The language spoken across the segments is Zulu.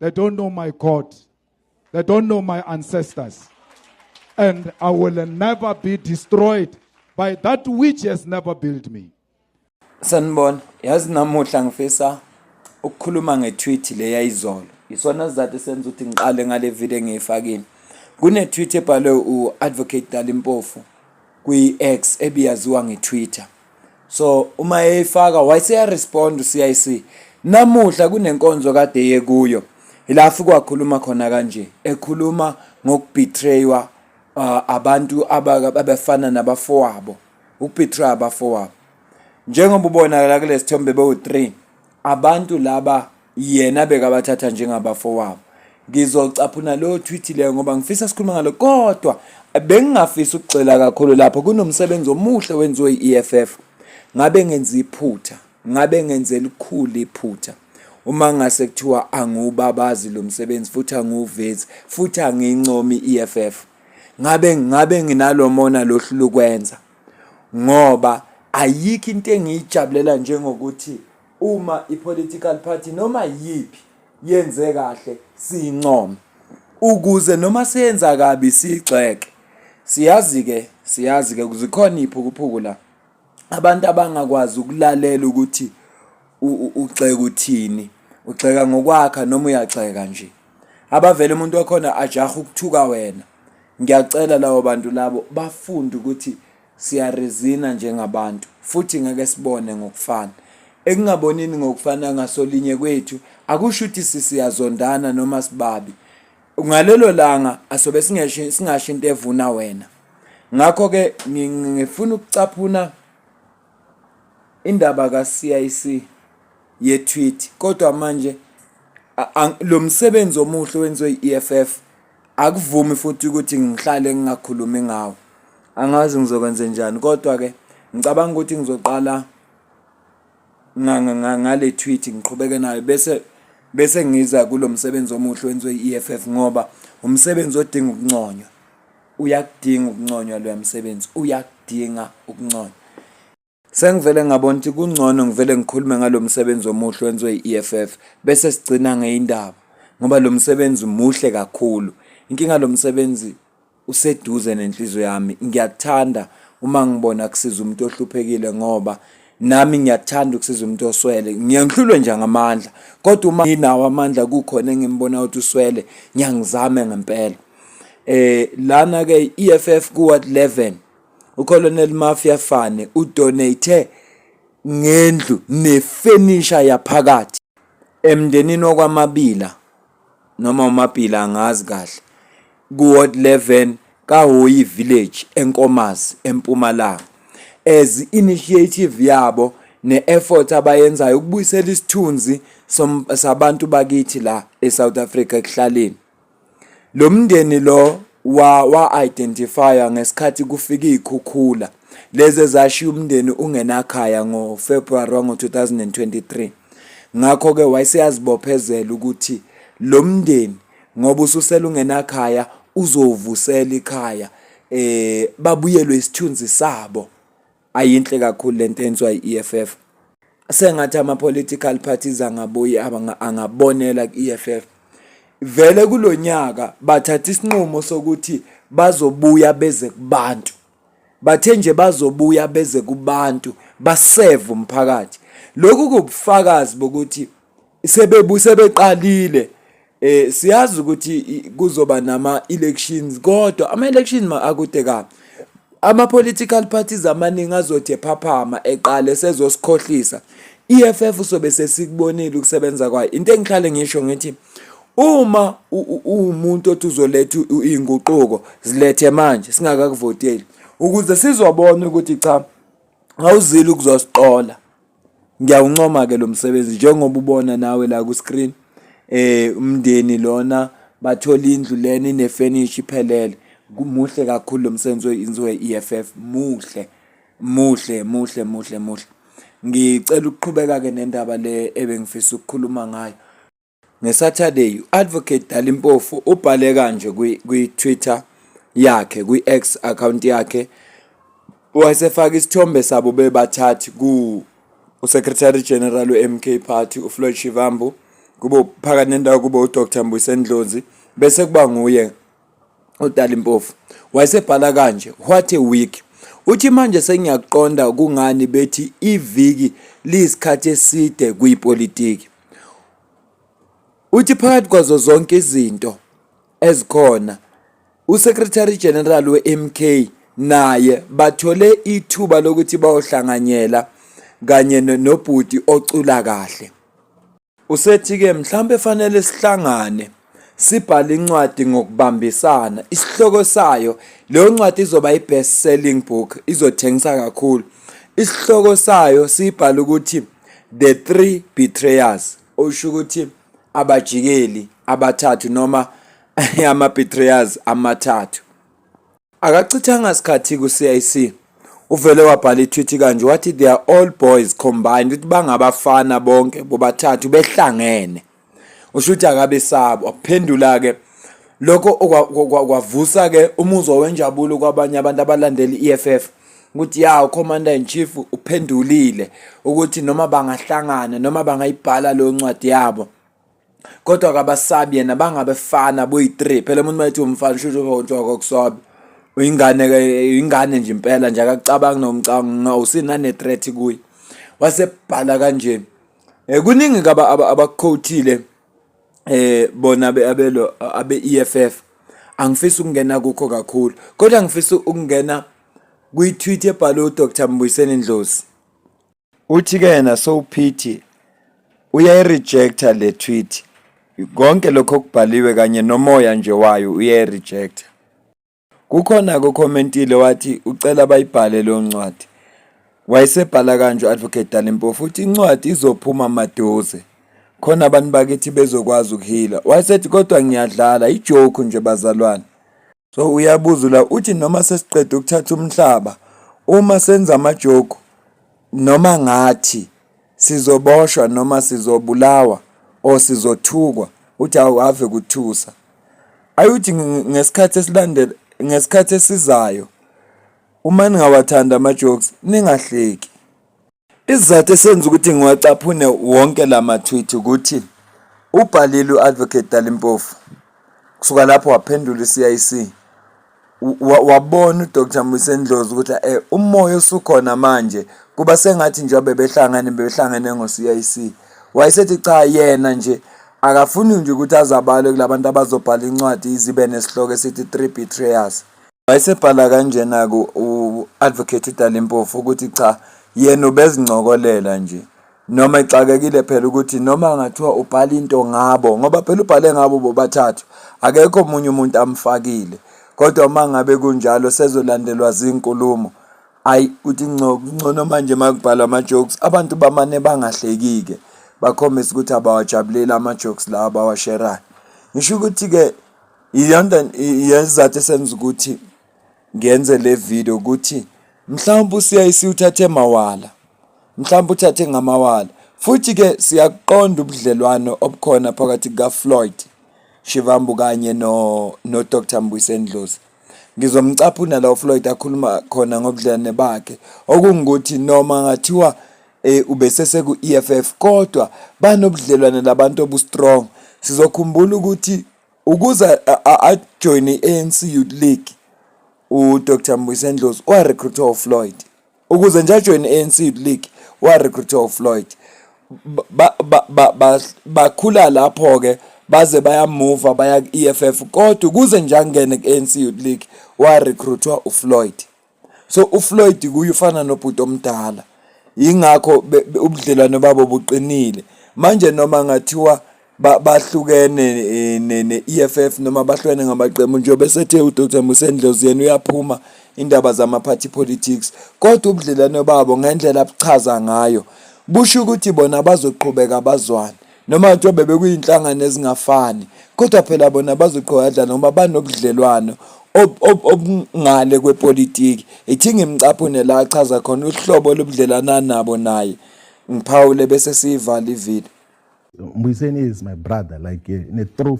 They don't know my God. They don't know my ancestors. And I will never be destroyed by that which has never built me. Sanibona, yazi namuhla ngifisa ukukhuluma nge-tweet le yayizolo. Isona sizathu senza ukuthi ngiqale ngale video engiyifakile. Kune-tweet ebhalwe u-Advocate Dalimpofu kwi-X ebiyaziwa nge-Twitter. so uma eyifaka wayeseya respond uCIC namuhla kunenkonzo kade yekuyo ila afike wakhuluma khona kanje ekhuluma ngokubetraywa uh, abantu abafana nabafowabo ukubetray abafowabo njengoba ubonakala kulesithombe bewu3 abantu laba yena bekabathatha njengabafowabo ngizocaphuna lo tweet leyo ngoba ngifisa sikhuluma ngalo kodwa bengingafisa ukugxila kakhulu lapho kunomsebenzi omuhle wenziwe i-EFF ngabe ngenza iphutha ngabe ngenze elikhulu iphutha uma ngase kuthiwa angiwubabazi lo msebenzi futhi angiwuvezi futhi angincomi i-EFF ngabe ngabe nginalomona lohlu lokwenza ngoba ayikho into engiyijabulela njengokuthi Uma ipolitical party noma yiphi yenze kahle siyincome ukuze noma siyenza kabi siyigxeke. Siyazi-ke siyazi-ke zikhona iy'phukuphuku la abantu abangakwazi ukulalela ukuthi ugxeka uthini ugxeka ngokwakha noma uyagxeka nje abavele umuntu wakhona ajahe ukuthuka wena ngiyacela labo bantu labo bafunde ukuthi Siyarizina njengabantu, futhi ngeke sibone ngokufana. Ekungabonini ngokufana ngasolinye kwethu akusho ukuthi sisiyazondana noma sibabi. Ngalelo langa asobe singasho into evuna wena. Ngakho-ke ngifuna ukucaphuna indaba ka-CIC ye-tweet kodwa manje lo msebenzi omuhle owenziwe i-EFF Akuvumi futhi ukuthi ngihlale ngingakhulumi ngawo. Angazi ngizokwenze njani kodwa-ke ngicabanga ukuthi ngizoqala ngale tweet ngiqhubeke nayo bese bese ngiza kulo msebenzi omuhle wenziwe i-EFF ngoba umsebenzi odinga ukunconywa uyakudinga ukunconywa loya msebenzi uyakudinga ukunconywa Sengivele ngabona ukuthi kungcono ngivele ngikhulume ngalo msebenzi omuhle wenziwe i-EFF bese sigcina ngeyindaba ngoba lo msebenzi muhle kakhulu. Inkinga lo msebenzi useduze nenhliziyo yami. Ngiyakuthanda uma ngibona kusiza umuntu ohluphekile ngoba nami ngiyakuthanda ukusiza umuntu oswele. Ngiye ngihlulwe nje ngamandla kodwa uma nginawo amandla kukhona engimbona ukuthi uswele ngiyangizame ngempela. Eh lana-ke i-EFF kuWard 11 uColonel Mafia Fane udonate ngendlu nefenisha yaphakathi emndenini wakwaMabila noma uMabila angazi kahle kuWard 11 kaHoyi Village eNkomazi eMpumalanga as initiative yabo ne-effort abayenzayo ukubuyisela isithunzi sabantu bakithi la eSouth Africa ekuhlaleni Lo mndeni lo wa-identifywa ngesikhathi kufika iy'khukhula lezi ezashiya umndeni ungenakhaya ngoFebruary wango-2023. Ngakho-ke wayeseyazibophezela ukuthi lo mndeni ngoba ususele ungenakhaya uzowuvusela ikhaya um babuyelwe isithunzi sabo ayinhle kakhulu lento enswa i-EFF sengathi ama political parties angabuye angabonela ku-EFF vele kulonyaka bathatha isinqumo sokuthi bazobuya beze kubantu bathe nje bazobuya beze kubantu baseve umphakathi lokhu kubufakazi bokuthi sebebuse beqalile Eh siyazi ukuthi kuzoba nama elections kodwa ama elections ma akude ka ama political parties amaningi azothi ephaphama eqale sezosikhohlisa EFF usobe sesikubonile ukusebenza kwayo into engihlale ngisho ngithi uma uwumuntu othi uzoletha izinguquko zilethe manje singakakuvoteli ukuze sizobona ukuthi cha awuzile ukuzosiqola Ngiyawuncoma ke lo msebenzi njengoba ubona nawe la ku-screen eh umndeni lona bathola indlu lena inefurniture iphelele muhle kakhulu lo msebenzi oyenziwe i-EFF muhle muhle muhle muhle muhle ngicela ukuqhubeka ke nendaba le ebengifisa ukukhuluma ngayo NgeSaturday, u-Advocate Dali Mpofu ubhale kanje kwi-Twitter yakhe, kwi-X account yakhe, wayesefaka isithombe sabo bebathathu ku uSecretary General we-MK Party uFloyd Shivambu kube phakathi nendawo kube uDr Mbuyiseni Ndlozi bese kuba nguye uDali Mpofu wayesebhala kanje what a week uthi manje sengiyakuqonda kungani bethi iviki liyisikhathi eside kuyipolitiki uthi phakathi kwazo zonke izinto ezikhona uSecretary General weMK naye bathole ithuba lokuthi bayohlanganyela kanye nobhuti ocula kahle Usethi-ke mhlawumbe fanele sihlangane sibhale incwadi ngokubambisana isihloko sayo leyo ncwadi izoba i-best selling book izothengisa kakhulu isihloko sayo siyibhala ukuthi the three betrayers osho ukuthi abajikeli abathathu noma ama-betrayers amathathu Akachithanga sikhathi ku-CIC uvele wabhala itwithi kanje wathi they are all boys combined ukuthi bangabafana bonke bobathathu behlangene usho ukuthi akabesaba waphendula-ke lokho kwavusa-ke umuzwa wenjabulo kwabanye abantu abalandela i-eff ukuthi ya ucommander in chief uphendulile ukuthi noma bangahlangana noma bangayibhala leyo ncwadi yabo kodwa kabasabi yena bangabefana boyi-three phela umuntu mayethi umfana shushontshoko kusobe uyingane ingane nje impela nje akakucabangi nomcanga usinane-threat kuye wasebhala kanje um kuningi kaba abakukhowuthile aba, eh bona abelo abe EFF angifisi ukungena kukho kakhulu kodwa ngifisa ukungena kwi-tweet ebhalwe uDr Mbuyiseni Ndlozi uthi ke yena sowuphithi uyayirejecta le tweet konke lokho okubhaliwe kanye nomoya nje wayo uyayirejecta kukhona kokommentile wathi ucela bayibhale leyo ncwadi wayesebhala kanje u-advocate dalimpo futhi incwadi izophuma maduze khona abantu bakithi bezokwazi ukuhila wayesethi kodwa ngiyadlala ijoke nje bazalwane So uyabuza la uthi noma sesiqeda ukuthatha umhlaba uma senza amajoku noma ngathi sizoboshwa noma sizobulawa or sizothukwa uthi awu ave kuthusa ayuthi ngesikhathi esilandela ngesikhathi esizayo uma ningawathanda ama-jokes ningahleki Isizathu esenza ukuthi ngiwacaphune wonke la mathwithi ukuthi ubhalile u-advocate Dalimpofu kusuka lapho waphendula i-CIC wabona uDr Mbuyise Ndlozi ukuthi eh umoya osukhona manje kuba sengathi nje bebehlangene bebehlangene ngo-CIC wayesethi cha yena nje akafuni nje ukuthi azabale kulabantu abazobhala incwadi izibe nesihloko esithi three betrayers Wayesebhala kanjena-ke u-Advocate uDali Mpofu ukuthi cha yena ubezincokolela nje noma exakekile phela ukuthi noma ngathiwa ubhala into ngabo ngoba phela ubhale ngabo bobathathu akekho omunye umuntu amfakile kodwa uma ngabe kunjalo sezolandelwa zinkulumo ayi uthi ngcono manje makubhalwa ama-jokes abantu bamane bangahleki-ke bakhombisa ukuthi abawajabuleli ama-jokes lawa abawasherayo ngisho ukuthi-ke iyona yesizathu esenza ukuthi ngenze le video ukuthi mhlawumbe uCIC uthathe mawala mhlawumbe uthathe ngamawala futhi ke siyakuqonda ubudlelwano obukhona phakathi kukaFloyd Shivambu kanye no no Dr Mbuyiseni Dlozi ngizomcaphuna la uFloyd akhuluma khona ngobudlelwane bakhe okungukuthi noma ngathiwa eh ubesese ku EFF kodwa banobudlelwane labantu obustrong sizokhumbula ukuthi Ukuze ajoyine i-ANC Youth League uDr Mbuyise Ndlozi warecruitwa uFloyd. Ukuze nje ajoyine i-ANC Youth League warecruitwa uFloyd. Bakhula lapho-ke baze bayamuva baya ku-EFF kodwa ukuze nje angene ku-ANC Youth League warecruitwa uFloyd. so uFloyd kuye ufana nobhuti omdala yingakho ubudlelwane babo buqinile manje noma ngathiwa bahlukene eh, ne-EFF noma bahlukene ngamaqembu njengoba esethe uDr Musendlozi yena uyaphuma indaba zama-party politics kodwa ubudlelwane babo ngendlela abuchaza ngayo busho ukuthi bona bazoqhubeka bazwane noma kuthiwa bebekuyinhlangano ezingafani kodwa phela bona bazoqhwadla noma banobudlelwano obungale kwepolitiki ithi ngimcaphune la achaza khona uhlobo lobudlelana nabo naye ngiphawule bese siyivala ivile Mbuyiseni is my brother like eh, in a true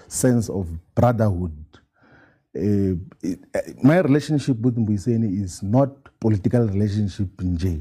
sense of brotherhood uh, my relationship with Mbuyiseni is not political relationship nje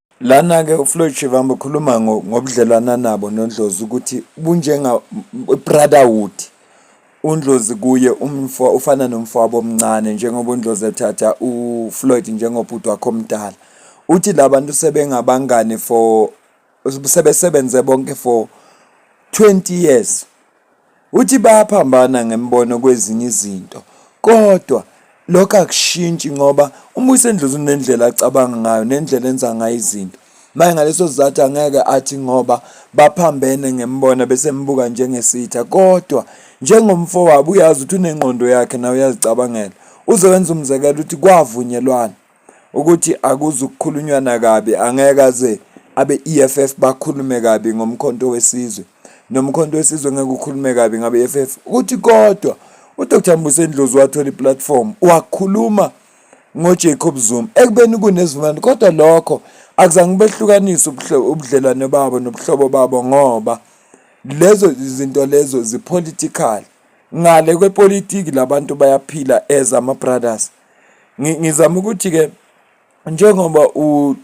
Lana-ke uFloyd Shivambu ukhuluma ngobudlelwane anabo noNdlozi ukuthi bunjenga-brotherhood. UNdlozi kuye ufana nomfowabo omncane njengoba uNdlozi ethatha uFloyd njengobhuti wakhe omdala. Uthi la bantu sebengabangani for sebesebenze bonke for twenty years. Uthi bayaphambana ngembono kwezinye izinto kodwa lokho akushintshi ngoba uma usendlozi unendlela acabanga ngayo nendlela enza ngayo izinto maye ngaleso sizathu angeke athi ngoba baphambene ngembona bese mbuka njengesitha kodwa njengomfo wabo uyazi ukuthi unengqondo yakhe nawe uyazicabangela uze wenza umzekelo ukuthi kwavunyelwana ukuthi akuzukukhulunywa nakabi angeke aze abe-EFF bakhulume kabi ngomkhonto wesizwe nomkhonto wesizwe ngeke ukhulume kabi ngabe-EFF ukuthi kodwa uDr Mbuso Ndlozi wathola iplatform wakhuluma ngoJacob Zuma ekubeni kunezimali kodwa lokho akuzange behlukanise ubudlelwane babo nobuhlobo babo ngoba lezo izinto lezo zipolitical ngale kwepolitiki labantu bayaphila as ama brothers ngizama ukuthi ke njengoba u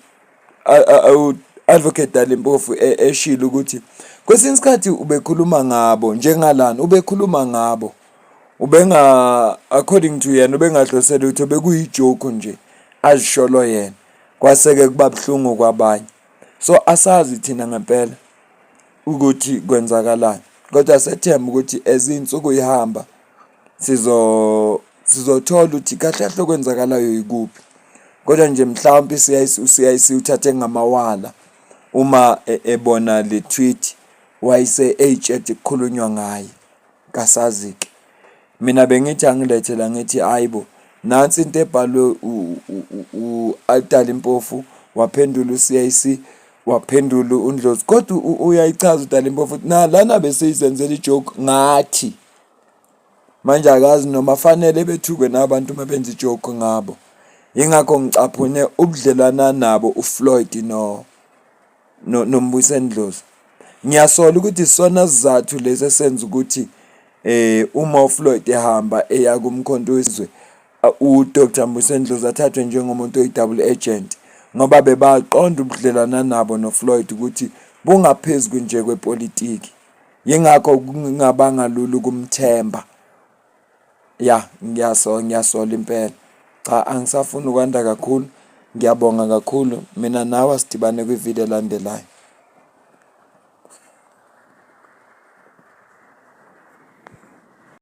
advocate Dalimpofu e, eshilo ukuthi kwesinye isikhathi ubekhuluma ngabo njengalana ubekhuluma ngabo ubenga according to yena ubengadlosela ukuthi bekuyijoke nje azisholo yena kwaseke kuba buhlungu kwabanye so asazi thina ngempela ukuthi kwenzakalani kodwa sethemba ukuthi ezinsuku ihamba Sizothola ukuthi kahle kahle okwenzakalayo yikuphi kodwa nje mhlawumpe i-CIC u-CIC uthathe ngamawala uma e- ebona le tweet wayise eyitshede kukhulunywa ngaye kasazi-ke. Mina bengithi angilethe la ngithi hhayi bo nansi into ebhalwe u- u- u- u-Altali Mpofu waphendula u-CIC waphendula uNdlozi kodwa u- uyayichaza uDali Mpofu ukuthi nalana beseyizenzela i-joke ngathi. manje akazi noma fanele bethukwe nabantu uma benza ijoke ngabo yingakho ngicaphune ubudlelwana nabo ufloyd no nombuso endlozi ngiyasola ukuthi isona sizathu lesi esenza ukuthi eh uma ufloyd ehamba eya kumkhonto wezwe uDr Mbuso Ndlozi athathwe njengomuntu oyi-double agent ngoba bebaqonda ubudlelwana nabo noFloyd ukuthi bungaphezulu nje kwepolitiki Yingakho kungabanga lula ukumthemba. Ya, ngiyasola ngiyasola impela. Cha angisafuni ukwanda kakhulu. Ngiyabonga kakhulu. Mina nawe asidibane kwi-video elandelayo.